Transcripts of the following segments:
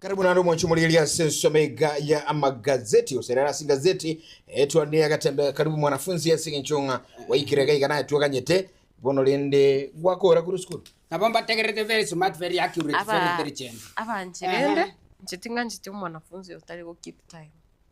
Karibu naende omonche omorigeri ase ensemo ega ya amagazeti gose rero ase gazeti eh, twane agatembe karibu mwanafunzi ase eng'encho ng'a waikire iga iga naye twaganyete bono rende gwakora korwa esukuru Nabo mbategerete very smart, very accurate, very Aba- intelligent. abanche Ehe. rende inche ting'ancheti omwanafunzi otari go keep time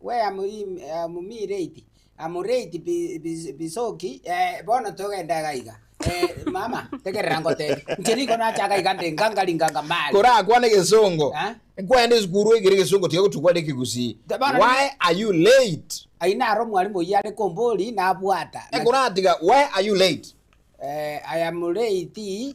we amoim- eh, amomireti, amoreti bi- bis- bisoki eh, bono togende iga iga. Eh, mama, tegerera ngotebi. Inche nigo nachaka iga nde nganga ringanga mali. Korakwane egesongo. Eh? Nkwaende esukuru oigere egesongo tiga gotugwara ekegusii. Te bono- Why are you late? Ayio naro omwalimu oyio are kombori nabwata. Na- Ekoratiga why are you late? Eh, I am late.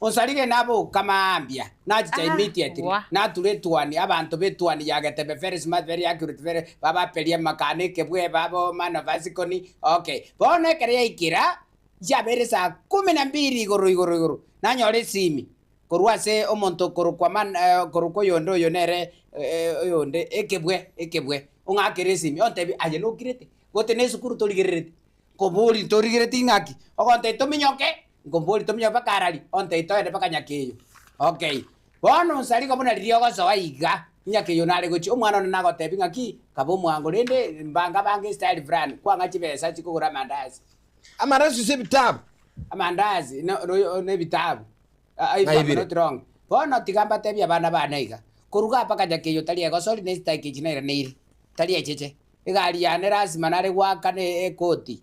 Osarire naboka mambia, na chichaimi itietiri, nature etuoni, abanto b'etuoni ya Getebe-Feresi, Maveri, Akiruthu-Fere, babaperie amakano, ekebweba, aboma, na basikoni. Okay, bono ekero yaikera chiabeire saa kumi na mbiri igoro igoro igoro, nanyora esimi korwa ase omonto okorokwa man, okorokwa oyonde oyo nere oyonde, Ekebwe, Ekebwe, ong'akere esimi ontebie, aye nokirete, gotee nesukuru torigerereti, nkoborie, torigereti ng'aki? Ogontebia tominyoke, Nkombori tominyoke mpaka arari, ontei toende mpaka nyake eyo. Okay. Bono onsi ariko buna riria ogosoa iga, nyake eyo nare gochia, omwana one nagotebi ng'a ki, kaba omwango, rende mbanga bange estyle fulani, kwang'a chibesa chikogora amandazi. Amandazi gose ebitabu? Amandazi no, no, no ebitabu. Ah, I am not wrong. Bono tiga mbatebi abana bane iga, koruga aa mpaka nyake eyo tari egosori na esitaki echi nairaneiri, tari echeche. Egari yane lasima nare goakana e, ekoti,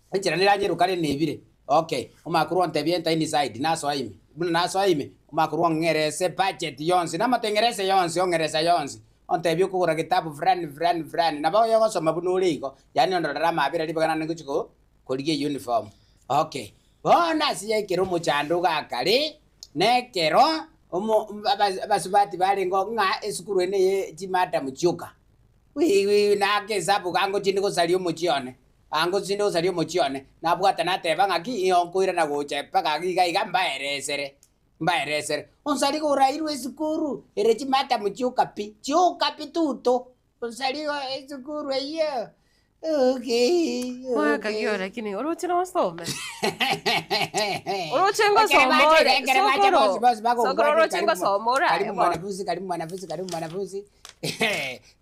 Enchera neranye rokare nebire. Okay, omakorwa ontebie enter inside nasoa ime. Buna nasoa ime, omakorwa ong'erese budget yonsi, namate ng'erese yonsi, ong'eresa yonsi. Ontebie okogora getabu fulani fulani fulani, nabo oyogosoma buna ore igo, yaani ondorere amaabera ribaga naende ngochia ko, korigia euniform. Okay, bono ase ya ekero omochandogo akare, na ekero omo, aba, abasubati barengeo ng'a esukuru ene ye chimadam chioka. Wiwi, na akesabu iga ngochie inde gosaria omochie one. Ango tinde osaria omochie one, nabwate nateba ng'aki ng'io nkoirana gocha mpaka iga iga mbaeresere, mbaeresere. Onsariga orairwe esukuru ere chimadam chioka pi, chioka pi tuto. Onsariga esukuru eyio okay, Oakagio okay. lakini oroche nosome. Oroche Ekere ngosoma bacha iga, ore. ekere bacha Sokoro. bonsi bonsi Sokoro bagonkora oroche karibu ngosoma ore aye karibu bono. mwanafunzi, karibu mwanafunzi, karibu mwanafunzi.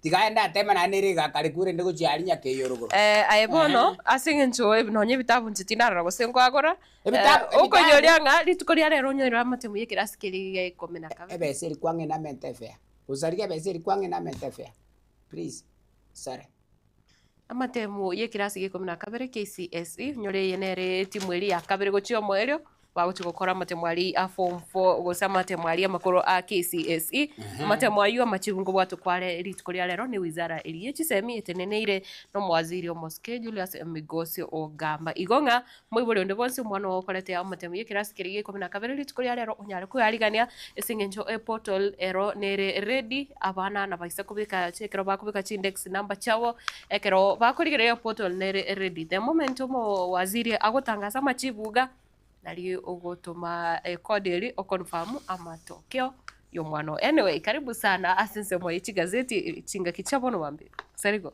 Tiga aende ateeme naende ere egaka are kure rinde gochia aria nyaka eyio orogoro. Eh, aye bono, Ehe. ase engencho eb- nonye ebitabu inche tindarora gose nkoagora, Ebitabu- eh, okonyoria ebitabu- ng'a rituko ria rero onyoire amatemu y'ekerasi keria egiga ikomi na kabere. Ebesa eri kwang'ina amente efea. Gosarigia ebesa eri kwang'ina amente efea. Please, sare. Amatemu y'ekirasi g'eikomi na kabere, KCSE, nyore eye nere etimu eria ya kabere gochia omoerio, bagochia gokora amatemu aria a form four gose amatemu aria amakoro a KCSE. Amatemu ayio amachigu nkobwatwe kware rituko ria rero ne wizara eria ye chisemi eteneneire na omowaziri omosike Julius Migos Ogamba. Igo ng'a Moibori onde bwensi omwana oo okorete omotemu y'ekerasi keria g'eikomi na kabere rituko ria reero onyare kwearigania, ase eng'encho eportal ero nere ready. Abana nabaisa kobeka ekero bakobeka chiindex number chiabo ekero bakorigereria eportal nere ready. The moment omowaziri agotangasa amachibu iga nari ogotoma code eria oconfirm amatokeo y'omwana oo. Anyway karibu sana ase ensemo ye chigazeti chingaki chia bono mambia. Gose rigo.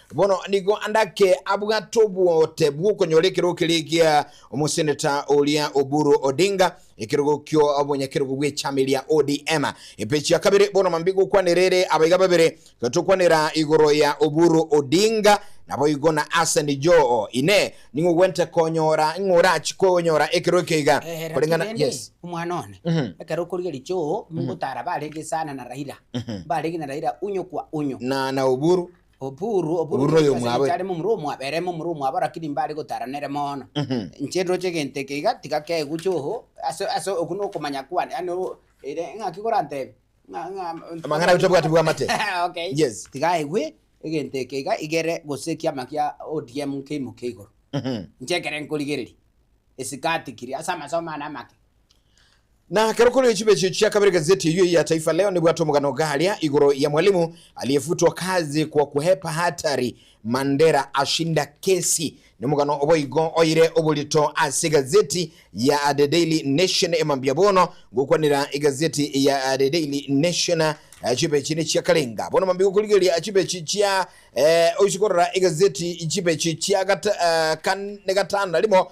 Bono nigo andake abwate obogote bw'okonyora ekerogo keria egia omoseneta oria Oburu Odinga, ekerogo ki'obonyakerogo bw'echama eria ODM. Epeji ya kabere, bono mambia gokwanera ere abaiga babere, iga tokwanera igoro ya Oburu Odinga, naboigo na Hassan Joho. Inee! Ning'o ogwenerete konyora? Ning'o orachi konyora ekero eke iga? Eeh, lakini Koreng'ana, rende, yes. omwana one, Mhm. ekero okorigeria Joho, nigo otara barenge sana na Raila, Mhm. mbarenge na Raila unyo kwa unyo. Na na Oburu. Oburu, oburu Oburu noyo omwabe. Inche aremo omura omwabe, eremo omura omwabe, rakini mbare gotara nere mono. Mhm. Inche ndoche egento eke iga, tiga keguche oho, ase ase okwo nokomanya kwane, yaani o- ere ng'aki korantebe? Ng'a- ng'a- Amang'ana aito obwati bw'amate. Okay. Yes. Tiga aigwe egento eke iga, iga ere gose ekiama kia ODM nkeimoke igoro. Mhm. Inche ekere nkorigereria, esikati kiria ase amasomo ane amake. Na ekero korire chibe echio chia kabere gazeti eyio ya Taifa Leo nebwate omogano garia igoro ya Mwalimu aliyefutwa kazi kwa kuhepa hatari, Mandera ashinda kesi. Nomogano oboigo oire oborito ase egazeti ya The Daily Nation e mambia bono. Gokwanera egazeti ya The Daily Nation chibe echi nechia karenga bono mambia gokorigereria chibe echi chia eh, oise korora egazeti chibe echi chia gata, eh, kan, ne gatano na rimo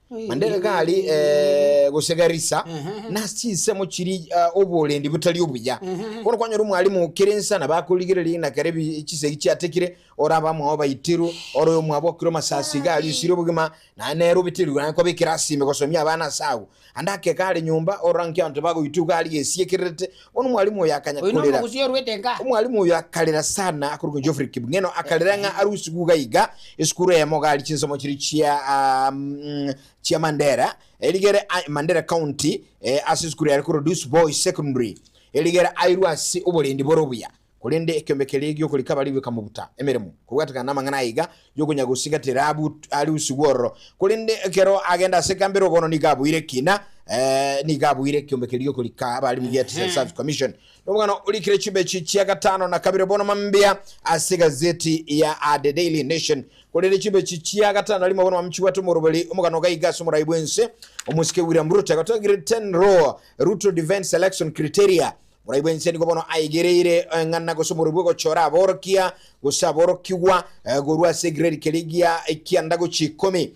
Naende gari eh, gose garisa nase chinsemo chiri ah, oborendi botari obuya bono kwanyora omwalimu kera ensa na bakorigereria ng'a kera ebi- chisegi chiatekire ore abamwao baitiru ore omwabo okire omasasi iga aria osire obogima naye nere obeterwe naye kobekera asime gosomia abana ase agwo ande ake kare nyomba orora nki abanto bagoitwa iga aria gesiekererete Bono omwalimu oyo akanya Oyo korera. nomogusi orwete nka. Omwalimu oyo akarera sana akorokwa Geoffrey Kipngeno akarera ng'a arusigwe iga iga esukuru eyemo gari chinsomo chiria chia um, chia Mandera erigere a- Mandera County eh, ase esukuru yare korwa Duis Boys Secondary erigere airwe ase oborendi bore obuya Korende ekeombe keria gi'okorika baria goika mobuta emeremo, kobwatekana namang'ana aya iga, y'okonya gosigati Rahabu arusigwe ororo. Korende ekero agenda ase ekambi ere bono nigo aboire ekina, ee, nigo aboire ekeombe keria gi'okorika abaremi gia Teacher Service Commission. Nomogano orikire chimbechi chia gatano na kabere bono mambia ase egazeti ya The Daily Nation. Korende chimbechi chia gatano na rimo bono mambia chibwate omoroberi omogano iga iga ase omorai bw'ense, omosike William Ruto egoteba Gretchen Rohr, Ruto Defense Election Criteria, Moraigwe inse nigo bono aigereire eng'ana gose omoruo bw'ogochora aborokia gose aborokigwa korwa ase egrade keria gia ekianda gochia ikomi.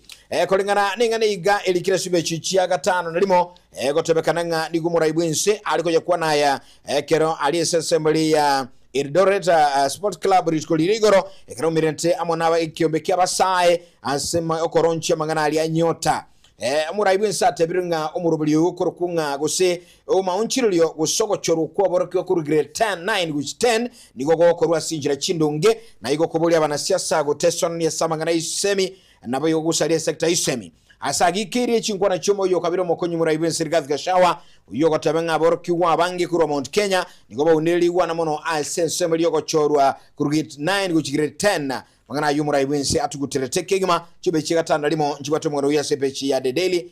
Koreng'ana neng'ana iga erikire ase ebiacha echia gatano na rimo, egotebekana ng'a nigo moraibwe inse are koyekwana aya ekero aria ase assembly ya Eldoret Sports Club rituko riria igoro ekero aumererete amo na ekiombe kia Abasae ase okoronchia amang'ana aria a Nyota. Moraibwe inse atebirwe ng'a omoroberio oyo okorokwo ng'a gose Obomaonchorerio gose ogochorwa kw'oborokigwa korwa Grade 10, 9 gochia 10 nigo gokorwa ase enchera chindonge, na igo koboria abanasi ase agotesanania ase amang'ana y'esisemi, nabo igo gosaria esecta y'esisemi. Ase ayio ikeirie chinkwana chi'omoyo o kabere omokonyi moraai bw'ense Rigathi Gachagua, oyio ogoteba ng'a aborokigwa abange korwa Mount Kenya nigo baunire rigwana mono ase ensemo eria ogochorwa korwa Grade 9 gochia Grade 10. Amang'ana ayio omoraai bw'ense atuguterete kegima, chimbeche iga tano na rimo nchibwate omogano oyio ase epeji ya The Daily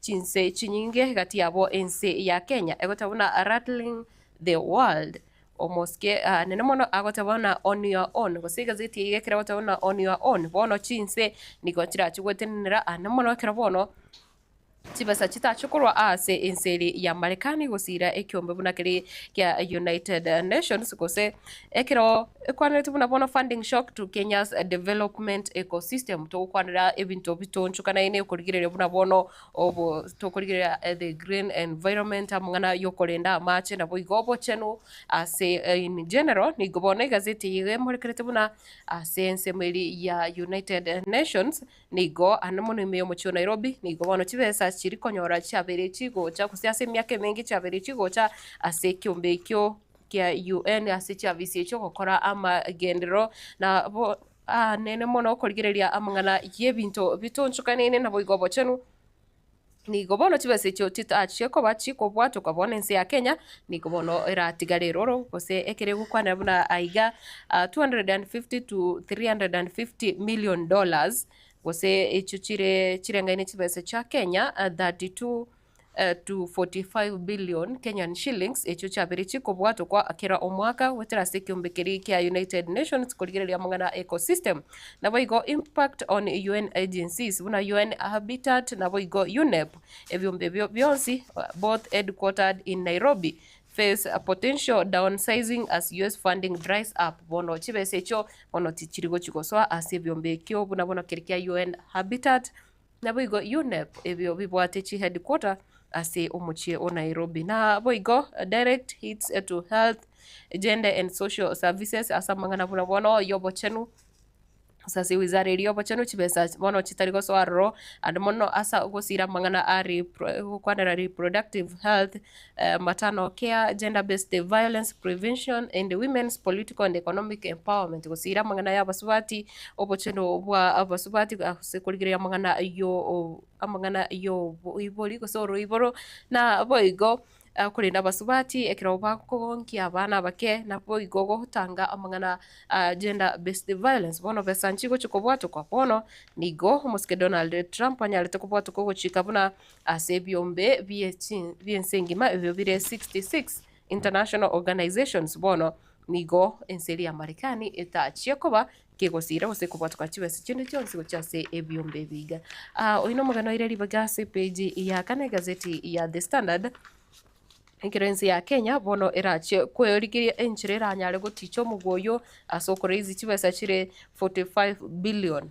Chinse chinyinge gati yabo ense ya Kenya egoteba buna rattling the world. Omosike nene mono agoteba buna on your own gose egazeti eyio ekero egoteba buna on your own bono chinse nigo chirachie gwetenenera aa namono ekero bono chibesa chitachie korwa aase ense eri ya Marekani gosiira ekiombe buna keri kia United Nations gose Ekero ekwaneretwe buna bono Funding Shock to Kenya's Development Ecosystem, togokwanera ebinto bitoonchokanaine okorigereria buna bono obo tokorigereria the green environment, amang'ana y'okorenda amaache naboigo obochenu ase in general. Nigo bono egazeti eye iga emorekerete buna ase ensemo eri ya United Nations nigo ande mono ime y'omochie o Nairobi nigo bono chibesa chiri konyora chiabeire chigocha gose ase emiaka emenge chiabeire chigocha ase ekiombe ekio kia UN ase chiafisi echio gokora amagenderero nabo anene mono korigereria amang'ana y'ebinto bitonchokanine naboigo obochenu. Nigo bono chibesa echio chitachie koba chikobwatoka bono ense ya Kenya nigo bono eratigare eroro gose ekere gokwanera buna aiga 250 to 350 million dollars gose echio chire chirengaine chibesa chia Kenya 32. to 45 billion Kenyan shillings echio chiaberetie kobwatokwa kera omwaka goetera ase ekeombe keria kia United Nations korigereria amang'ana a ecosystem, naboigo impact on UN agencies buna UN Habitat naboigo UNEP, ebiombe ebio bionsi both headquartered in Nairobi, face potential downsizing as US funding dries up. Bono chibesa echio bono tichiri gochia gosoa ase ebiombe ekio buna bono keri kia UN Habitat, Naboigo UNEP ebio bibwate chi headquarter ase omochie o Nairobi. Naboigo direct hits to health, gender and social services ase amang'ana buna bono yobochenu gose ase wizara eria yobochenu chibesa bono chitari gosoa aroro and mono ase gosira amang'ana a repro gokwanera reproductive health, Eambatano kia Gender Based Violence Prevention and Women's Political and Economic Empowerment gosiira amang'ana y'abasubati, obochenu bwa abasubati ase korigereria amang'ana yo amang'ana y'oboibori gose oroiboro naboigo korenda abasubati ekero bakogonkia abana abake naboigo gotanga amang'ana a Gender Based Violence. Bono besa nchigochia kobwatokwa bono nigo omosike Donald Trump anyarete kobwatokwa ogochika buna Ase ebiombe bi'ense engima ebio bire 66 international organisations bono nigo ense eria Marekani etachia koba kegosiira gose kobwatoka chibesa chinde chionsi gochia ase ebiombe ebi iga. Oino omogeni oire ribaga ase epeji ya kana egazeti ya The Standard, Ekero ense ya Kenya bono erachie kwerigeria enchera eranyare gotiicha omoguo oyio ase okoraise chibesa chire 45 billion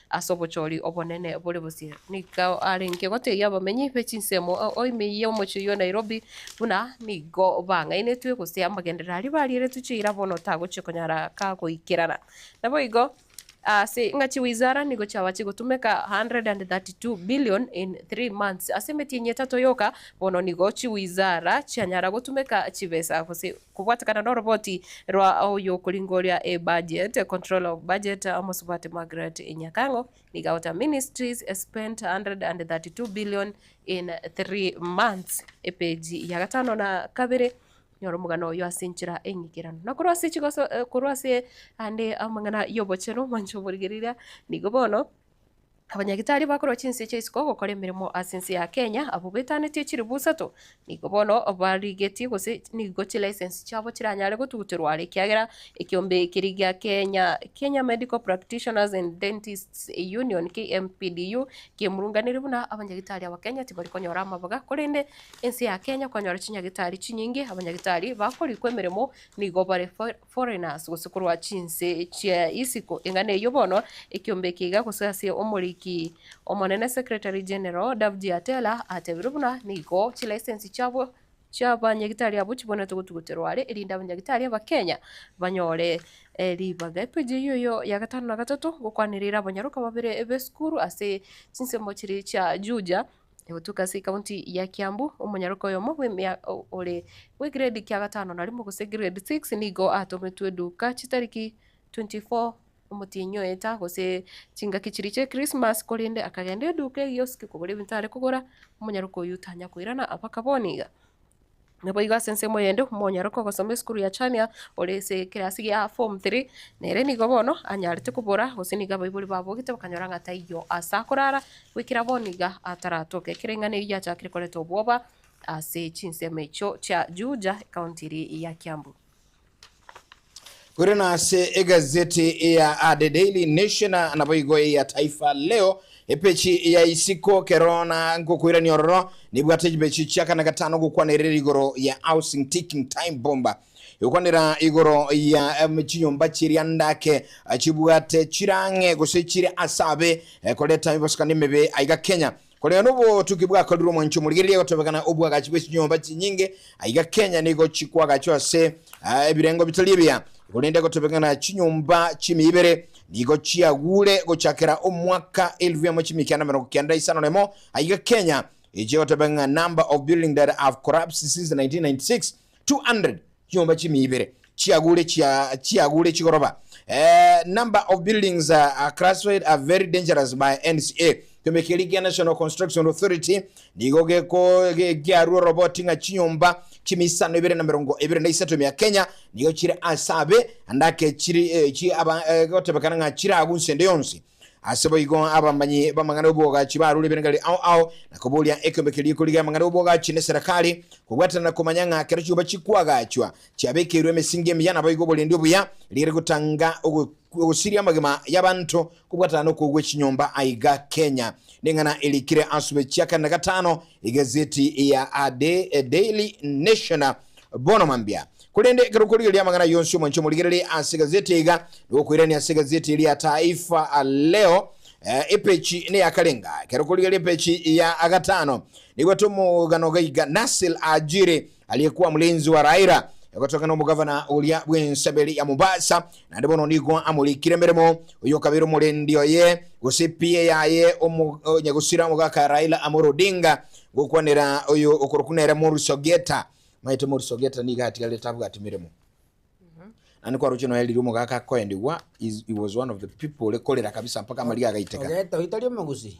ase obochori obonene bore bosio. Nigo arenge goteebia abamenyi be chinsemo oime y'omochie oyio o Nairobi buna nigo bang'ainetwe gose amagenderero aria barieretwe chiira bono tagochia konyara ka goikerana. Naboigo ase ng'a chiwizara nigo chiaba chigotumeka 132 billion in three months, ase emetienyi etato yoka bono nigo chiwizara chianyara gotumeka chibesa gose Kobwatekana noroboti rwa oyokoringoria ebudget, Controller of Budget, Omosubati Margaret Nyakang'o, nigo agoteeba ministries spent 132 billion in three months, epeji ya gatano na kabere, Nyora omogano oyo ase enchera eng'ikeranu. Na korwa ase chigoso, korwa ase ande amang'ana y'obochenu, mwanche oborigereria, nigo bono. Abanyagitari bakorwa chinse chia isiko gokora emeremo ase ense ya Kenya, abwo betanetie chiribu isato, nigo bono barigetie gose nigo chilicense chiabo chiranyare gotuguterwa are ekiagera ekiombe ekeri gia Kenya, Kenya Medical Practitioners and Dentists Union, KMPDU, kemurunganire buna abanyagitari aba Kenya tibari konyora amabaga korende ense ya Kenya kwanyora chinyagitari chinyinge, abanyagitari bakorikwa emeremo nigo bare Foreigners, gose korwa chinse chia isiko eng'ana eyio bono ekiombe eke iga gose ase omoriki omonene Secretary-General Davji Atela atebire buna nigo chilicense chiabo chia banyagitari abwo chibwenerete gotuguterwa are erinde abanyagitari Abakenya banyore ribaga. Epeji eyio eyio ya gatano na gatato gokwanereire abanyaroka babere b'esukuru ase chinsemo chiria chia Juja Egotuka ase ekaunti ya Kiambu, omonyaroka oyomo bw'emia ore bw'egrade kia gatano na rimo gose grade six nigo atometwe eduka chitariki 24 omotienyi oye taa gose chingaki chiria chia Christmas korende akagenda eduka egioski kogora ebinto are kogora, omonyaroka oyio tanya koirana abakaba one iga. Naboigo ase ensemo eyende omonyaroke ogosoma esukuru ya Chania ore ase ekerasi gia form three, nere nigo bono anyarete kobora gose nigo abaibori babogete bakanyora ng'a taiyo aase akorara, goikera bono iga ataratoke. Ekero eng'ana eyio yachakire koreta obwoba ase chinsemo echio chia Juja, ekaunti eria ya Kiambu. Korende ase egazeti ya The Daily Nation na naboigo eya Taifa Leo, epechi ya isiko kero na ngokoirania ororo nebwate chipechi chia kane gatano gokwanerera igoro ya Housing Ticking Time Bomb. Egokwanera igoro ya em, chinyomba chiria ndake chibwate chirang'e gose chire ase abe eh, koreta emibosokano emebe aiga Kenya. Korende nobotuki bwakorirwe omwancho omorigereria gotebekana obwagachi bwe chinyomba chinyinge aiga Kenya nigo chikwagachwa ase ebirengo bitari ebiya igo rende gotebekana chinyomba chimia ibere nigo chiagure gochakera omwaka elfu emo chimia kianda merongo kenda isano nemo aiga Kenya eche gotebekana number of building that have collapsed since 1996 200 Chinyomba chimia ibere chiagure chia chiagure chigoroba eh, number of buildings uh, are classified are very dangerous by NCA. Kiombe keria kia National Construction Authority nigo geko ge- giarwa oroboti ng'a chinyomba chimia isano ibere na merongo ibere na isato mia Kenya nigo chire ase abe ande ake chiri eh, chi aba eh, gotebekana ng'a chire agwo nse ende yonsi. Ase boigo abamanyi b'amang'ana 'obwogachi barure ebirengererio ao ao, na koboria ekeombe keria ekorigia amang'ana 'obwogachi n'eserekari, kobwatana na komanya ng'a kera chiuba chikwagachwa chiabekeirwe emesingi emiya, naboigo oborendi obuya rigiya rigotanga ogosiria amagima y'abanto kobwatana nokogwa echinyomba aiga Kenya. Neng'ana erikire asube chia kane na gatano egazeti ya A Daily Nation. Bono mambia, korende ekero okorigera ri'amang'ana aya onsi omwanche omorigerere ase egazeti iga, nigo okoirania ase egazeti eria Taifa Leo, epechi neyakarenga. Ekero okorigera epechi ya gatano, nigo tomogano gaiga Nasir Ajiri, aria kwa Mlinzi wa Raila, egotokana nomogavana oria bw'ensaberi ya Mombasa, Naende bono nigo amorikire emeremo oyokabere omorendi oye gose PA yaye omo onyagusira omogaka Raila Amolo Odinga gokwanera oyo okorokwa nere Morris Ogieta. Maete Morris Ogieta nigo atigarire tabwati meremo. Naende kwaroche noe riria omogaka akoendigwa is- he was one of the people ore korera kabisa mpaka amariga agaiteka. Ogeta oyo tari omogusii.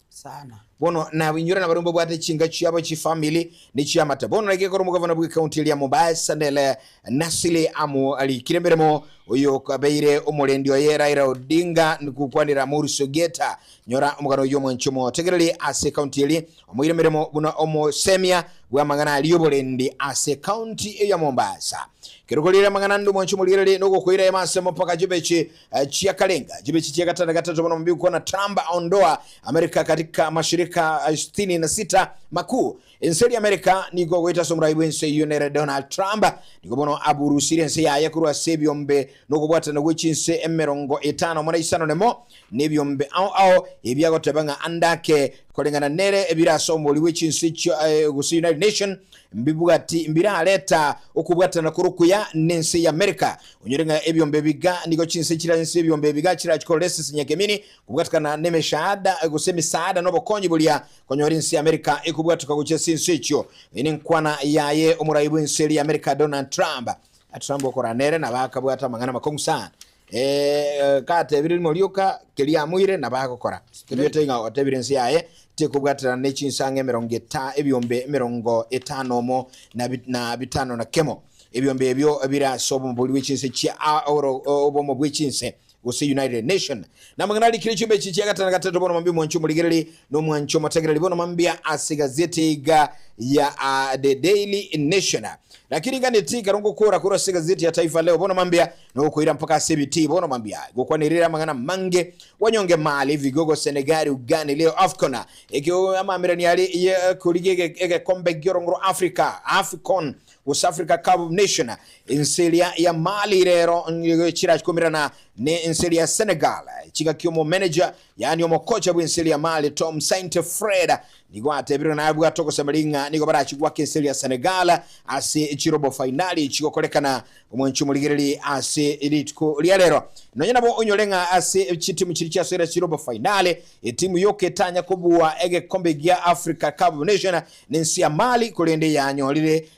sana. Bono nabo inywera nabaria mbabwate chinka chiabo chifamili ne chiamate bono naki ekero omogavana bwe county eria Mombasa Nele Nasili amo arikire emeremo oyo okabeire omorendi oye Raila Odinga nkokwanera Maurice Ogieta nyora omogano oyio omwanche omotegereri ase county eri omoire emeremo buna omosemia bwamang'ana aria oborendi ase county eyo ya Mombasa ekero koriire amang'ana ande omwanche omorigereri nogokoira ime ase mopaka Jubichi Chiakarenga chibe chichia gatano gatato bono mambia gokwana Trump ondoa Amerika katika mashirika sitini na sita makuu. Ense eria Amerika nigo goeta ase omorai bw'ense eyio nere Donald Trump nigo bono aburusire ense yaye korwa ase ebiombe nokobwatana gwe chinse emerongo etano more isano nemo nebiombe ao ao ebi agoteba ng'a ande ake koreng'ana nere ebire ase omori bwe chinse echio gose United Nation mbibwati mbirareta okobwatana kore okuya nense y'Amerika Onyore ng'a ebiombe ebiga nigo chinse chire ense y'ebiombe ebiga chirachie korora ase esenyenge emini, kobwatekana nemeshaada gose emisaada na obokonyi boria konyora ense y'Amerika ekobwatoka gochia ase ense echio, eye nenkwana yaye omorai bw'ense eria y'Amerika Donald Trump. Trump okorana nere nabo akabwata amang'ana amakong'u sana, gatebirie rimo rioka keria amoire nabo agokora, toigwete ng'a otebire ense yaye tekobwaterana ne chinsang'e emerongo eta ebiombe emerongo etano omo na bitano na kemo. Ebiombe ebio bire ase obomobori bwe chinse chia obomo bwe chinse, gose United Nation. Namang'ana arikire chiombe echi chia gatano na gatato bono mambia omwancho omorigereri na omwancho omotegereri bono mambia ase egazeti iga ya The Daily Nation. Naki ring'ana eti ikarwa ngokoora korwa ase egazeti ya Taifa Leo bono mambia nogokoira mpaka ase ebitii bono mambia gokwanirire amang'ana amange, Wanyonge Mali, Vigogo, Senegal, Ugani, Leo Afcon, Amaamererania aria ye korigia egekombe gi'orongo rwa Africa, Afcon, West Africa Cup of Nation, ense eria ya Mali rero nigo chirakomerana ne ense eria ya Senegal. Chingaki omo manager yaani omokocha bw'ense eria ya Mali Tom Saintey Fred nigo atebirwe naye abwate ogosema ring'a nigo barachi gwaka ense eria ya Senegal ase chirobo fainali chigokorekana omwancho omorigereri ase rituko ria rero. Nonye nabo onyore ng'a ase chitimu chiria chiasoire ase chirobo fainali, etimu yoka etanya kobua egekombe gia Africa Cup of Nation Nense ya Mali korende yanyorire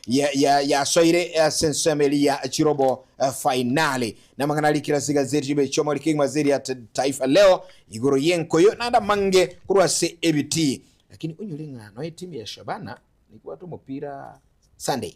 yasoire ase ensemo eria ya chirobo fainali. Namang'ana a rikira ase egazeti ribe chiomori kegima ase eria Taifa Leo igoro yenkoyo naende amange korwa ase ebitii. Lakini onyore ng'a nonya etimu ya Shabana nigwate omopira Sunday.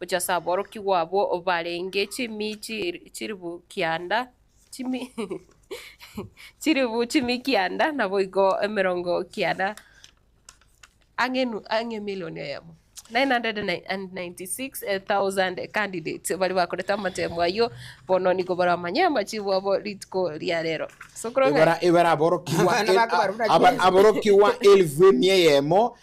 Gochia ase aborokigwa abwo barenge chimi chilifu kianda, chimi chilifu chimi kianda naboigo emerongo kianda ang'e enu- ang'e emilion eyemo, 996,000 candidates baria bakorete amatemo ayio, bono nigo baramanye amachibu abo rituko ria rero. Ase okorong'ana Ebara ebara aborokigwa Abana el- bako barabuna a- aba- Jesu. aborokigwa elifu emia eyemo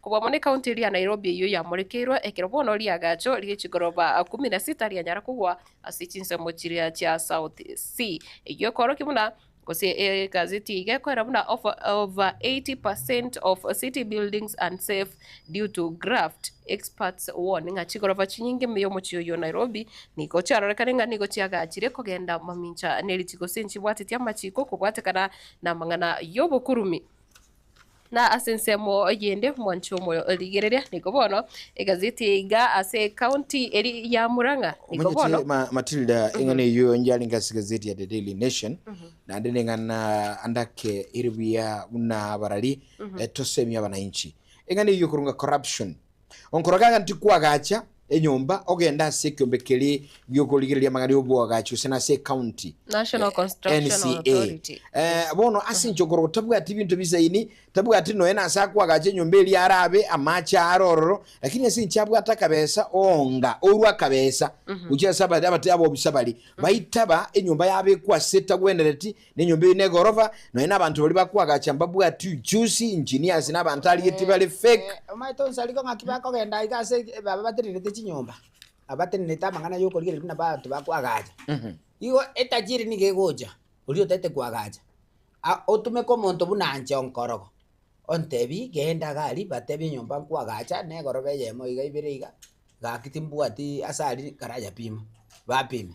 Kobua mono ecounty eria ya Nairobi eyio yamorekeirwe ekero bono riagacho rie chigoroba kumi na sita rianyara kogwa ase chinsemo chiria chia South Sea eyio ekoorokia buna gose egazeti eye igekoera buna over 80 percent of city buildings unsafe due to graft experts warn ng'a chigoroba chinyinge ime yomochie oyio Nairobi nigo chiarorekane ng'a nigo chiagachire kogenda mamincha neritigo gose nchibwateti amachiiko okobwatekana namang'ana yobokurumi. Na ase ensemo eyende mwanche omoyo o rigereria, nigo bono egazeti eye iga ase ekaunti eri ya Murang'a, nigo bono Omanyete ma- Matilda eng'ana eyio enche arenge ase egazeti ya The Daily Nation naende neng'ana ande ake ere buya buna abarari eh, tosemie abanainchi. Eng'ana eyio korwa ng'a corruption Onkoroge aganti kwagacha enyomba ogende ase ekiombe keria gi'okorigereria amang'ana y'obwagachi gose nase ecounty National Construction NCA. Authority. Eh, bono ase inche onkorogo tabwati binto bisaini, tabwati nonya nase akwagacha enyomba eria arabe amache aare ororo, lakini ase inche abwate akabesa oonga orwa akabesa gochia ase abare abate abobisa baria, baitaba enyomba yabekwa ase etagwenereti, Nenyomba eyio negorofa, nonya nabanto baria bakoagacha mbabwati uchusi, engineers na abanto arigetie bare fake. Omanyete onsi ariko ng'aki bakogenda iga ase baba batenenete chinyomba, aba batenenete amang'ana y'okorigereria buna abanto bakoagacha. Igo etajiri nigo egocha, oria otaete koagacha, a- otumeke omonto buna anche onkorogo, ontebie genda gari batebie enyomba nkoagacha negorofa eyemo iga ibere iga, gaki timbwati ase aria karayapima, bapima.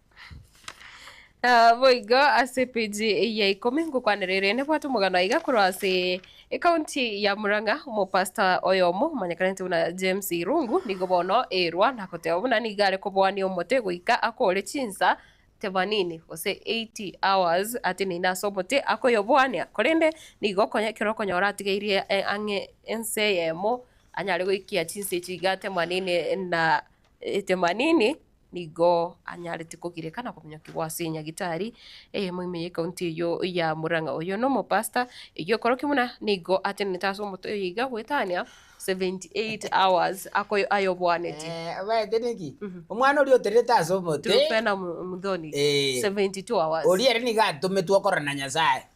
Aah boigo ase page eye ya ikomi ngokwanera ere nebwate omogano aiga korwa ase ecounty ya Murang'a, omopastor oyomo omanyekanete buna James Irungu nigo bono airwa na goteba buna nigo are koboania omote goika akoore chinsa themanini gose eighty hours ateneine ase omote akoyoboania korende nigo konya ekero okonyora atigairie ang'e ense eyemo anyare goikia chinsa echi iga themanini na Etemanini nigo anyarete kogireka na kominyokigwa ase enyagitari eyemo ime y'ecounty eyio ya Murang'a. Oyio na omopastor eyio okorokio buna nigo atenenete ase omoto oyo iga goetania 78 hours ako ayobwaneti. Eh, obaete neki? Mhm. Omwana oria oterete ase omote, Truphena Mu- Muthoni, eh, 72 hours. oria ere nigo atometwe okorora na Nyasae.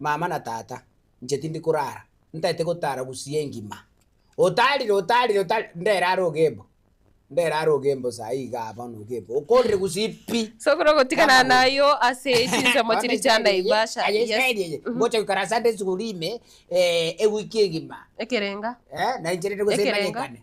mama na tata, inche tindi korara, ntaete gotara gusii engima. Otarire, otarire, otarire, ndere are ogembo, ndere are ogembo saii igaa aa bono ogembo, okorire gusii pi. Sokoro gotigana Kama gori. nayo ase chinsemo Bono chiria chia Israeli eye, Naivasha. aye Yes. Israeli eye, Mhm. ngocha goikara Sunday school ime, eh, ewiki egima, Ekerenga. eh, na inche rende gose Ekerenga. emanyekane.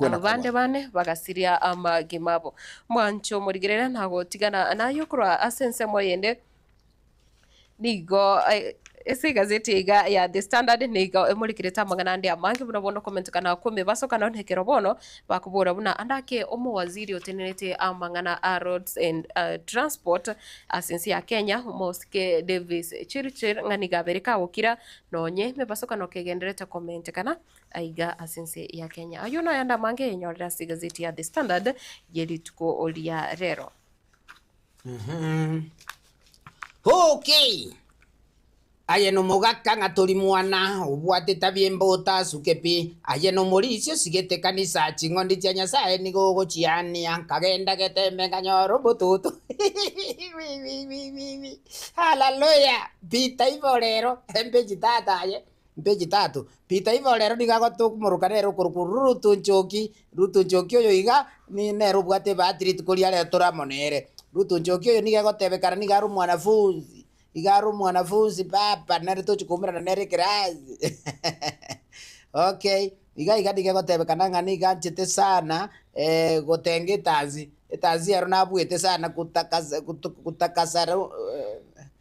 Aba bande bane bagasiria amagima abo. Mwanche omorigereria na gotigana naye korwa ase ensemo eyende, nigo ase egazeti iga ya The Standard nigo emorekerete amang'ana ande amange buna bonde okomentokana kw'emebaso kando nekero bono bakobora buna ande ake omowaziri otenenerete amang'ana a roads and transport ase ense ya Kenya omosike Davis Chirchir ng'a nigo abere kagokira nonye emebaso kano kegendererete komentekana aiga ase ense ya Kenya. Ayio naye ande amange enyorire ase egazeti ya The Standard ye rituko ria rero. Mhm. Okay. Aye nomogaka ng'a tori mwana obwate tabi embota asuke pi. Aye nomorisia osigete kanisa ching'ondi chia Nyasaye nigo ogochiania. Nkagenda getembe nkanyora obototo. Wi, wi, wi, wi, wi. Hallelujah. Peter ibo rero embechi tata aye. Mpe chitato. Peter igo rero nigo agotomoruka nere okorokwa Ruto Njoki. Ruto Njoki oyo iga nere obwate ebahati rituko ria rero tore amo nere. Ruto Njoki oyo nigo egotebekana nigo are omwanafunzi, iga are omwanafunzi papa nere tochi koumerana nere ekerasi okay iga iga nigo egotebekana ng'a nigo anchete sana gotenga etansi, etansi ero nabuete sana gotakasa gotakasa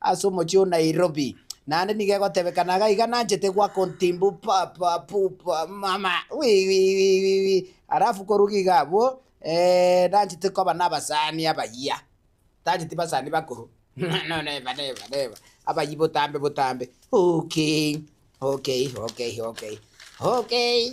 Ase omochie o Nairobi. Naende nigo egotebeka naga iga nanchete gwa kontimbu papa pupa mama wiwiwiwiwi alafu koruga iga abwo eeh nanchete koba nabasani abayia tancheti basani bakoro no neba neba neba abayia botambe botambe okay okay okay okay okay.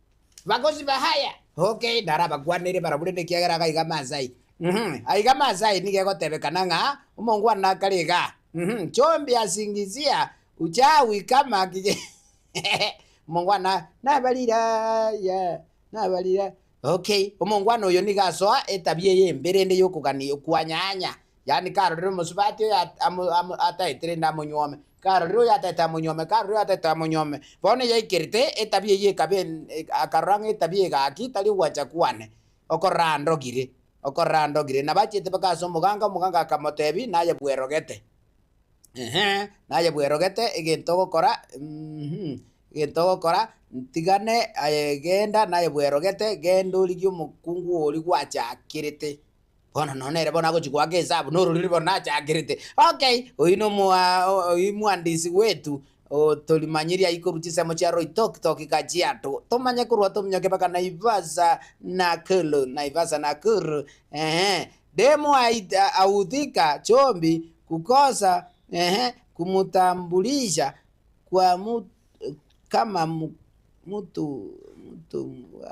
bagosiba haya. Ok, narabakwanere barabwo rende ekiagera iga aiga Maasai. Uhum, aiga Maasai nigo egotebekana ng'a omongwana akare iga. Uhum, chombi asingizia ucha wikama kige omongwana nabarira aya nabarira ok, omongwana oyo nigo asoa etabia eye embe rende yokogania okwanyanya, yaani karorire omosubati oyo at- amo- amo ataete rende amonyuome. Karorire oyatete amonyuome, karorire oyatete amonyuome. Bono yaikerete etabia eyio ekaba en akarora ng'a etabia egaki tari ogwancha kwane, okorora andogire, okorora andogire. Nabo achiete mpaka ase omoganga, omoganga akamotebia naye bwerogete, ehe, naye bwerogete egento ogokora mh, egento ogokora ntigane aye genda naye bwerogete, genda origie omokungu oria gwachakerete. Bono nonya nere bono agochia goaka esabu na ororiri bono nachakerete, okay oyio nomo oyio mohandisi wetu otorimanyeria ayio korwa chisemo chia Loitoktok goika chiato, tomanye korwa tominyoke mpaka Naivasa, Nakuru, Naivasa Nakuru eeh, demo aita ahufika chumbi kukosa eeh, kumtambulisha kwa mtu. kama mu mutu mutu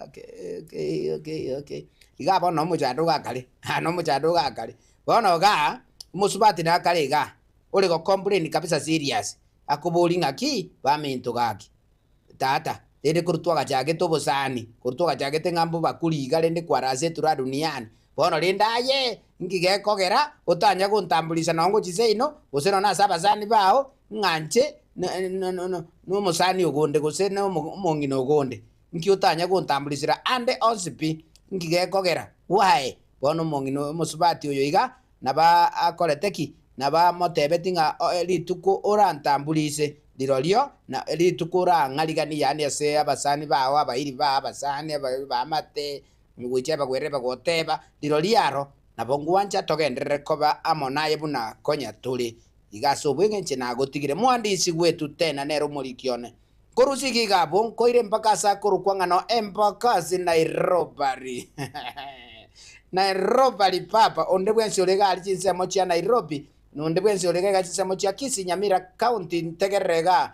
ake ekei ekei ekei iga bono na omochando iga akare aa na omochando iga akare. Bono igaa, omosubati na akare igaa, ore go complain kabisa serious, akoboria ng'aki, baminto gaki, tata, rende korwa twagachagete obosani, korwa twagachagete ng'a mbobakuri iga rende kwarase eturaha duniani, Bono rende aye inki gekogera otanya gontamburisha nonya gochia seino, gose nonya ase abasani bao, ng'a inche nomosani ogonde, gose omong'ina ogonde? Inki otanya gontamburisera ande onsi pi? Inki gekogera? Why? Bono omong'ina omosubati oyo iga nabo akorete ki? Nabo amotebetie ng'a rituko orantamburise rirorio rituko orang'ariganie, yaani ase abasani bao, abairi bao, abasani, abaamate, Nigocha ebagwere ebe goteeba, Rirorio aro, nabo ngwancha togenderere koba amo naye buna konya tore. Iga ase obweng'enche nagotigire. Mohandisi gwetu tena nere omoriki one. Nkorusia iga iga abwo, nkoire mpaka ase akorokwa ng'a no Embakasi Nairobari. Nairobari papa, onde bwensi ore iga aria chinsemo chia Nairobi, na onde bwensi ore iga iga chinsemo chia Kisii, Nyamira County, ntegerere igaa,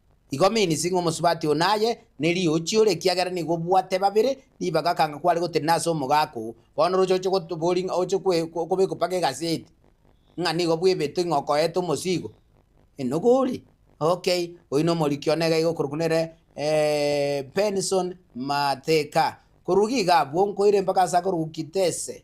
Igo minsi ng'a omosubati oo naye neriochi ore ekiagera nigo obwate babere ribaga akanga kware gotenena ase omogaaka oo. Bono roche oche gotobori ng'a oche kobekwa mpaka egaseti ng'a nigo bwebetwe ng'a okoete omosigo enoga ore okay oyio na omoriki one iga iga okorokwa nere Benson Mateka. Korwa iga iga abwo nkoire mpaka ase akorokwa Kitese.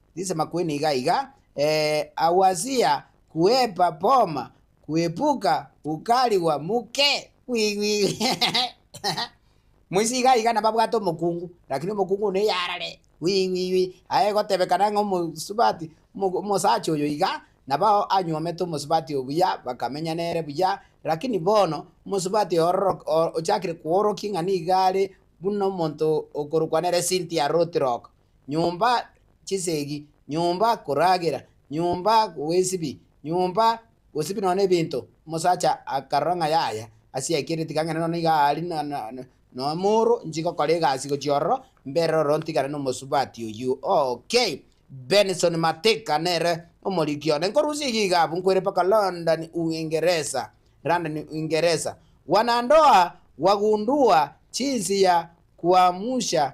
Nisema kweni iga iga, ee, aguasia, kwepa poma, kwepuka, gukarigwa muke, gwigwigwi. Moise iga iga nababwate omokungu, lakini omokungu one yarare, gwigwigwi. Aye gotebekana ng'a omosubati, omo- omosacha oyo iga, nabo anyuomete omosubati oyo buya, bakamenya nere buya, lakini bono, omosubati oyo ororo- o- ochakire koorokia ng'a nigo are buna omonto okorokwa nere Cynthia Rotirock. nyomba chisegi, nyomba koragera, nyomba bwesibi, nyomba gosibi nonya nebinto. Omosacha akarora ng'a yaya, ase yaikire tiga ng'ende nonya iga aria na na nonya mooro, nchi gokora egasi gochia ororo, mbere ororo ntigane nomosubati oyio okay. Benson Mateka nere omoriki one, nkorusia iga iga abwo nkoire mpaka London Uingeresa, London Uingeresa. Wanandoa, wagundua jinsi ya kuamsha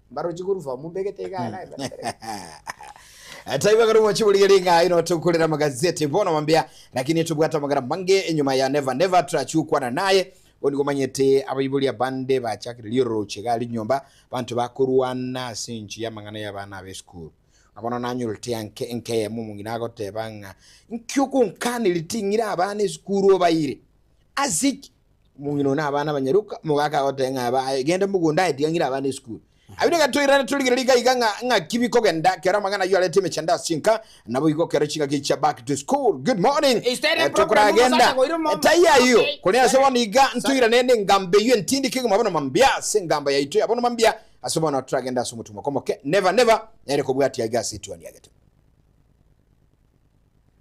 Mbarochi korufa omonto egete iga iga iga iga. Taiba kare mwachiburiga ringa ino tukurira magazeti bono mambia lakini tubwate amagara mange enyuma ya never never turachukwana naye bonigo manyete abaibori abande bachakire riororoche iga rinyomba banto bakorwana ase enchi y'amang'ana y'abana abe esukuru ng'a bono nanyorete anke enkeyemo omong'ina agoteba ng'a inki ogonkaniri ting'ira abana esukuru obaire ase ki Omong'ina one abana abanyaroka, omogaka agoteba ng'a aba aye, genda mogonda aye, tigang'ira abana esukuru. Abwo nigo toirane torigereria iga iga ng'a ng'aki bikogenda ekero amang'ana ayio arete emechando ase enka, nabo igo ekero chingaki echi chia back to school, good morning, Instead eh, problem of tokoragenda, omosacha goira omombe. etai ayio. Okay, Korende ase sorry. bono iga ntoirane n'engambo eyio entindike igima bono mambia ase engambo yaito ya bono mambia, ase bono toragende ase omotumo okomoke, never never nere kobwatia iga ase etuoni ya getumo.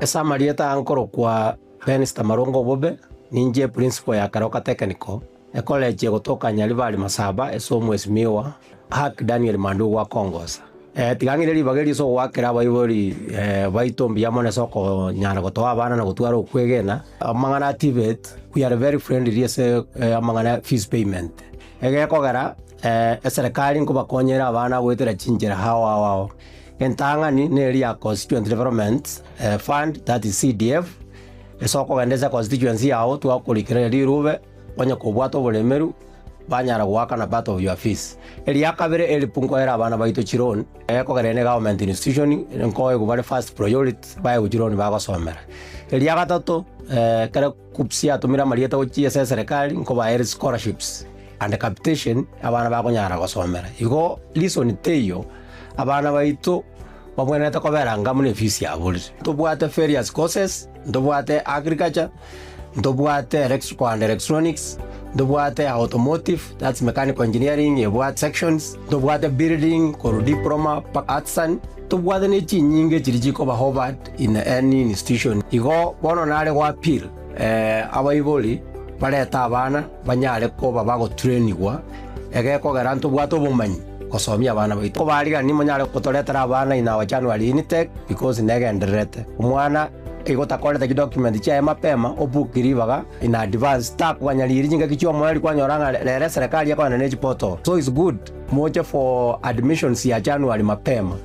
Ase amarieta ankorokwa Benz Tamarongo Obobe, ninche eprinsipal ya Karoka Technical, ekolechi egotoka Nyaribari Masaba ase Omwesimiwa Ark Daniel Mandugu akongosa. Tiga ng'ire ribaga erio ase ogoakera abaibori baito mbuya mono ase okonyara gotoa abana na gotwara okwegena. Amang'ana a TVET, we are very friendly ase amang'ana ya fees payment, egekogera. Ee, eserekari nkobakonyere abana goetera chinchera ao ao ao. Entang'ani neri ya Constituent Development Fund, that is CDF, ase okogenda ase constituency yao twakorikera rirube onye kobwate oboremeru banyara goakana part of your fees. Eria kabere help nkoera abana baito chiloan kogerania ne government institution nkoegwe bare first priority baegwe chiloan bagosomera. Eria gatato ekero KUCCPS yatomire amarieta gochia ase eserekari nkobaere scholarships. and capitation abana bakonyara gosomera. Igo reason teiyo abana baito babwenerete kobera anga buna efisi yabo rire. Ntobwate various courses, ntobwate agriculture, ntobwate electrical and electronics, ntobwate automotive that's mechanical engineering ebwate sections, ntobwate building korwa diploma mpaka artisan, ntobwate ne chinyinga echiria chikoba offered in any institution. Igo bono nare goappeal Abaibori barete abana banyare koba bagoturenigwa, egekogera ntobwate obomanyi gosomia abana baito. Kobarigani monyare gotoretera abana in our January intake because negendererete. Omwana igo otakorete chidocument chiaye mapema obook ribaga in advance takoganyariiri chingaki chiomoreri kwanyora ng'a rero eserekari ekorana ne chiportal so it's good moche for admissions ya January mapema.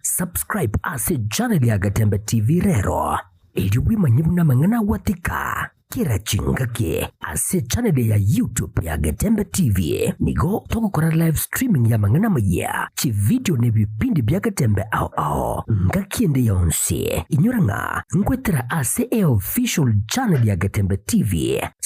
Subscribe ase channel ya Gatembe TV rero erio bwimanye buna amang'ana agwatika kera chingaki ase channel ya YouTube ya Gatembe TV nigo togokora live streaming ya amang'ana amaya chivideo ne bipindi bia Gatembe ao ao ngaki ende yonsi inyora ng'a ngwetera ase e official channel ya Gatembe TV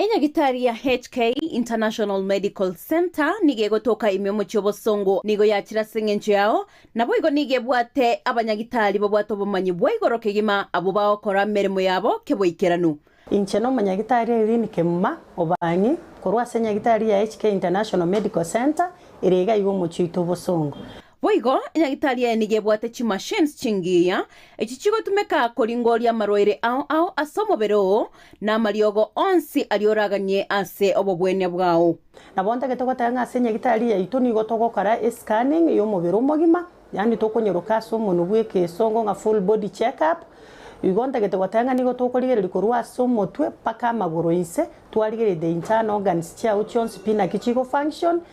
Enyagitari ya HK International Medical Centre nigo egotoka ime omochie obosongo. Nigo yachire ase engencho yao, naboigo nigo ebwate abanyagitari babwate obomanyi bwa igoro kegima abwo bagokora emeremo yabo keboikeranu. Inche nomonyagitari Irene Kemuma Obang'i korwa ase enyagitari ya HK International Medical Centre ere iga iga omochie oito obosongo. Boigo, enyagitari eye nigo ebwate chimachines chingiya, echio chigotumeka koringoria amarwaire ao ao ase omobere oo, na amariogo onsi aria oraganie ase obobwenia bwao. Nabo ntagete goteba ng'a ase enyagitari yaito nigo togokora e-scanning y'omobere omogima, yaani tokonyeroka ase omonwe bw'ekeesongo ng'a full body check up. Igo ntagete goteba ng'a nigo tokorigereria korwa ase omotwe mpaka amagoro inse, twarigereria the internal organs chiao chionsi pi naki chigo function,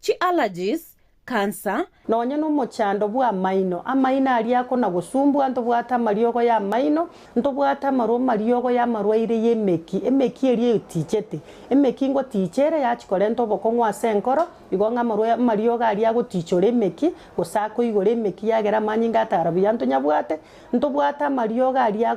Chi allergies, cancer. Nonya nomochando bw'amaino. Amaino aria akona gosumbua, ntobwate amariogo y'amaino, ntobwate amarwa mariogo y'amarwaire y'emeki, emeki eria eyotichete. Emeki ngotiicha ere yachi korenta obokong'u ase enkoro, igo ng'a amarwa amariogo aria agotiichora emeki, gose akoigora emeki yagera amanyinga atara buya ntonyabwate, ntobwate amariogo aria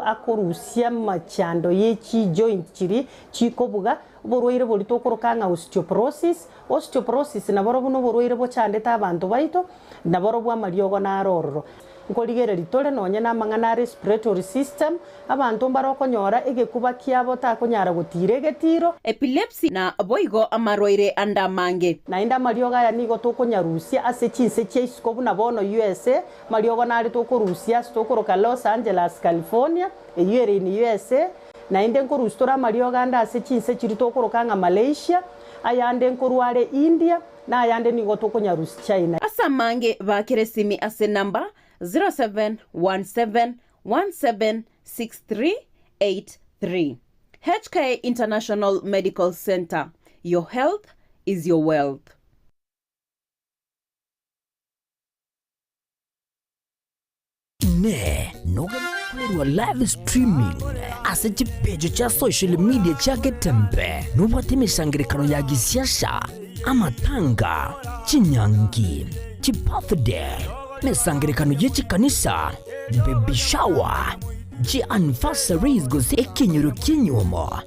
akorusia amachando ye chi joint chiri chikobuga, Oborwaire boria tokoroka ng'a osteoporosis, Osteoporosis naborobwo noborwaire bochandete abanto baito, naborobwo amariogo naro ororo. Nkorigereria tore nonye namang'ana a respiratory system, abanto mbare okonyora egekuba kiabo takonyara gotiira egetiiro. Epilepsy na boigo amarwaire ande amange. Naende amariogo aya nigo tokonyarusia ase chinse chia isiko buna bono USA, amariogo nare tokorusia ase tokoroka Los Angeles, California, eyio ere in USA, Naende nkorusitora amariogo ande ase chinse chiria tokoroka ng'a Malaysia, ayande nkorwa are India, na ayande nigo tokonyarusia China. Ase amange bakera esimi ase number 0717176383. HK International Medical Centre, your health is your wealth. Inee! Nogende koirwa live streaming ase chipeji chia social media chia Getembe nobwate emesangererekano ya gisiasha, amatanga, chinyangi, chibirthday, emesangererekano ye chikanisa, baby shower, chianniversaries gose ekenyoro ki'enyomo?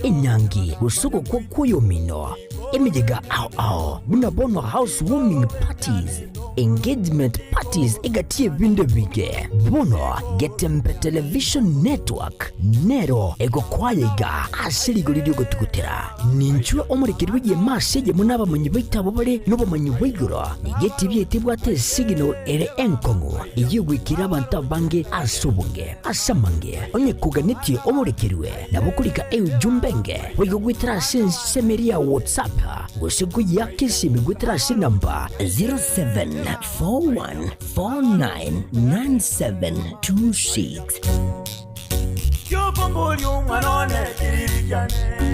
enyangi, gose ogokwa kw'oyomino, emeyega ao ao, buna bono housewarming parties, engagement parties egati y'ebinto ebinge. Bono Getembe Television Network nero egokwaya iga ase rigori ri'ogotugutera. Ninchwe omorekeri bw'egeoma ase eyemo n'abamonyi baito abwo bare nobomanyi bwa igoro, nigo etibi yaito ebwate esigino ere enkong'u ey'ogwekera abanto abange ase obonge. Ase amange, onye koganetie omorekerwe, Nabo korika enchumba enge, boigo goetera ase ensemeri ya WhatsApp, gose koyeaka esimi goetera ase enamba 0741499726. Kiokombori omwana one, kirigiane.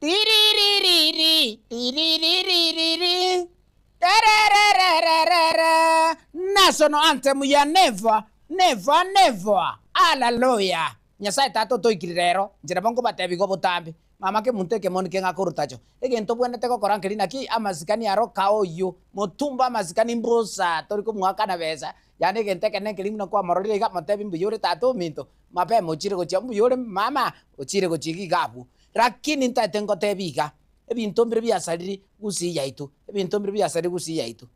Tiriririri, tiriririri, terererererere, National anthem ya Never, never, never, Hallelujah. Nyasaye Tata otoikire rero, inche nabo nkobatebi igo botambe, mama kemunto ekemo nike ngakoruta-cho. Egento obwenerete gokora nkeri naki, amasikani aro kaoyio, motumba amasikani mbusa, tori komoakana besa, Yaani egento ekenene ekeria buna kwamororire iga, motebi mbuya ore tata ominto, mapema ochiire gochia, mbuya ore mama, ochiire gochia iga iga abwo. Rakini ntaete ngotebie iga, ebinto mbire biasariri gusii yaito, ebinto mbire biasariri gusii yaito.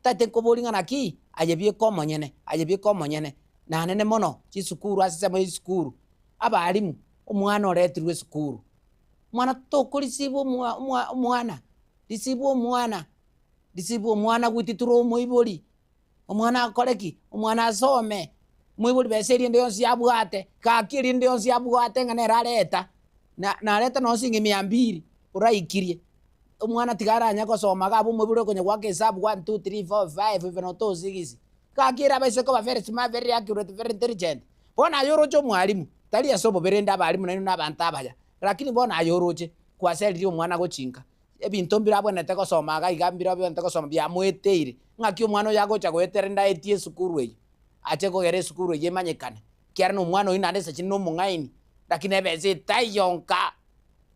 Ntaete nkoborie ng'a naki aye bieka omonyene, aye bieka omonyene, nanene mono chisukuru ase ensemo ya chisukuru, abalimu, omwana oretirwe esukuru, omwana tokorisiibwa omwa omwa omwana, risiibwa omwana, risiibwa omwana gwiti toromoibori. Omwana akore ki? Omwana asome, moibori besa erinde yonsi yabwate, gaki erinde yonsi yabwate ng'a nere areta, na nareta nonye siringi mia mbiri, oraikirie, omwana tiga aranye gosoma iga abe omoibori okonya goaka esabu one, two, three, four, five even oto o six, gaki ere abaise koba very smart, very accurate, very intelligent. Bono aye oroche omwarimu, tari ase obobe rende abarimu nainwe na abanto abaya, rakini bono aye oroche, kwaseririe omwana gochi inka, Ebinto mbirabwenete gosoma iga iga mbirabwenete gosoma biamoeteire ng'aki omwana oyo agocha goetera ende aetie esukuru eyio, ache kogera esukuru eyio emanyekane, ekiagera nomwana oyio naende esechiri nomong'aini, lakini ebesa etaiyo nka,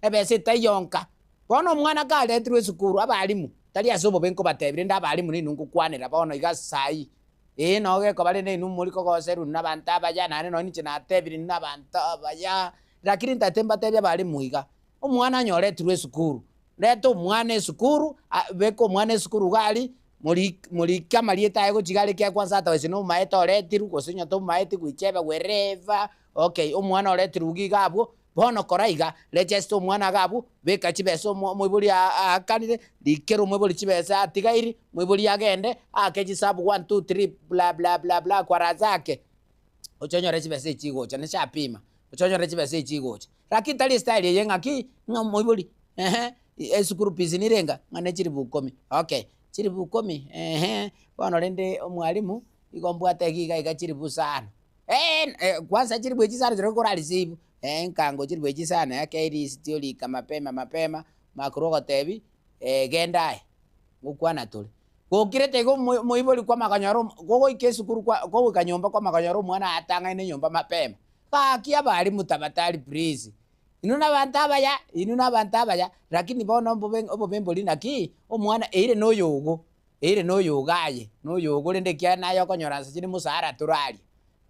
ebesa etaiyo nka. Bono omwana karetirwe esukuru abalimu, tari ase obobe nkobatebi, rende abalimu nainwe ngokwanera bono iga saii, ee nao gekoba rende inwe mori kogoserwa inwe nabanto abaya, naende nonye ninche natebirie inwe nabanto abaya, lakini ntagete mbatebi abalimu iga, omwana anyoretirwe esukuru, reta omwana esukuru, a- beka omwana esukuru iga aria, morik morike amarieta aye gochia iga aria ekiagera kwansa atabaise na omomaete oretirwe gose onye tomomaeti goicha ebegwa ere eva, okay omwana oretirwe iga iga abwo, bono kora iga, regesta omwana iga abwo, beka chibesa omo omoibori aa- aakanire, rikera omoibori chibesa atigairi, moibori agende, aake chisabu one two three bla bla bla bla kwaranse ake, oche onyore chibesa echi chigocha, nase apima, oche onyore chibesa echi chigocha, Gaki tari estyle eye ng'aki ng'a omoibori ehe eschool fees nire enga? Ng'a ne chilifu ikomi, okay chilifu ikomi ehe, bono rende omwalimu igo mbwate iga iga iga chilifu isa ano, eeh kwansa chilifu echi isano chirobwo kora receive? Eeh nkango chilifu echi isa ano eke elisiti orika mapema mapema, makorwa ogotebi genda aye ngokwana tore. Gokirete iga omo omoibori kwama konyora omo kogoika esukuru kwa kogoika nyomba kwama konyora omwana atang'aine nyomba mapema. Gaki abaria motabatari please. Inwe nabanto abaya, inwe nabanto abaya, lakini bono obobe obobe mbori naki, omwana eire noyogo, eire noyogo aye, noyogo rende ekiagera naye okonyora nsa chire mosara toraria,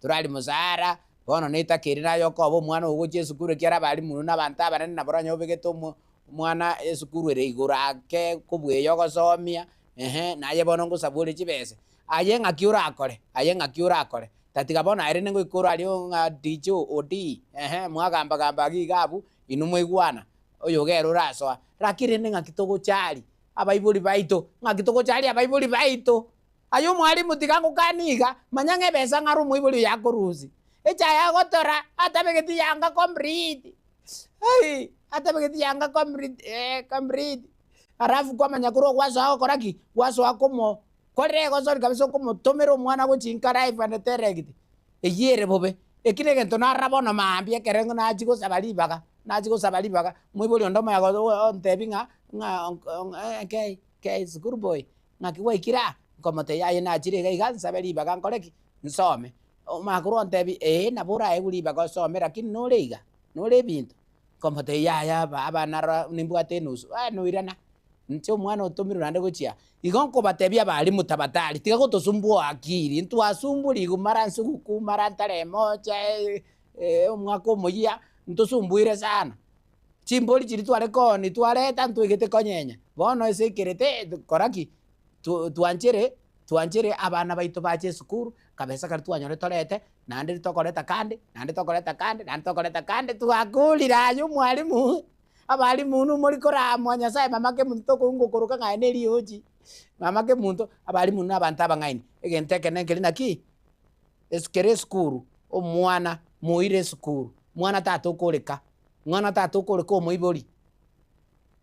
toraria mosara, bono netaka ere naye okoba omwana ogochia esukuru ekiagera abalimu inwe nabanto abanene nabo oranyore obegete omo omwana esukuru ere igoro ake kobweya ogosomia, ehe, naye bono ngosaba ore chibesa, Aye ng'aki orakore, aye ng'aki orakore, tatiga bono aye rende ngoika orari oo ng'a DJ Odii, ehe, mwagamba gamba agiya iga abwo, inwe mwaigwana, oyogo ere orasoa, lakini rende ng'aki togocharia abaibori baito, ng'aki togocharia abaibori baito. Aye omwalimu tiga ngokanie iga, manya ng'a ebesa ng'are omoibori oyo akorusia, echae agotora, atabegeti yanga complete, ai, atabegeti yanga complete, eeh, complete, alafu kwamanya korwa ogwasoa gokora ki? Gwasoa komo Korire egosori kabisa okomotomera omwana gochia inkare aifwanete eregiti eyio ere bobe. Eki negento narora bono maambia ekero ingo nachia gosaba ribaga, nachia gosaba ribaga, moibori onde omoya gocha ontebi ng'a ng'a kei kei sukuru boy ng'aki gwaikire aa? Nkomotebia aye nachire iga iga nsabe ribaga nkore ki? Nsome. Omwakuru ontebi ee nabo oraegwe ribaga osome rakini nore iga, nore ebinto, Nkomotebia yaya aba abana aroro nimbwate enusu, eh noirana, inche omwana otomirwe naende gochia, igo nkobatebia abalimu tabatari tiga gotosumbua akiri, ntwasumburi igo mara nse gokwa mara ntare emocha omwaka omoyia, ntosumbuire sana, chimbori chiria tware kooni twareta ntwaigete konyenya, bono ase ekerete kora ki? twanchere, twanchere abana baito bache esukuru, kabesa karia twanyore torete, naende tokoreta kande, naende tokoreta kande, naende tokoreta kande, twakorire aye omwalimu, abalimu inwe mori koramwa Nyasaye mamake monto tokoigwa okoroka ng'a aye ne riochi, mamake monto, abalimu na abanto abang'aini, egento ekenene keri naki, esu kere esukuru, omwana moire esukuru, mwana tata okoreka, mwana tata okoreka omoibori,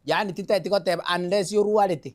yaani titeti goteba unless orwarete,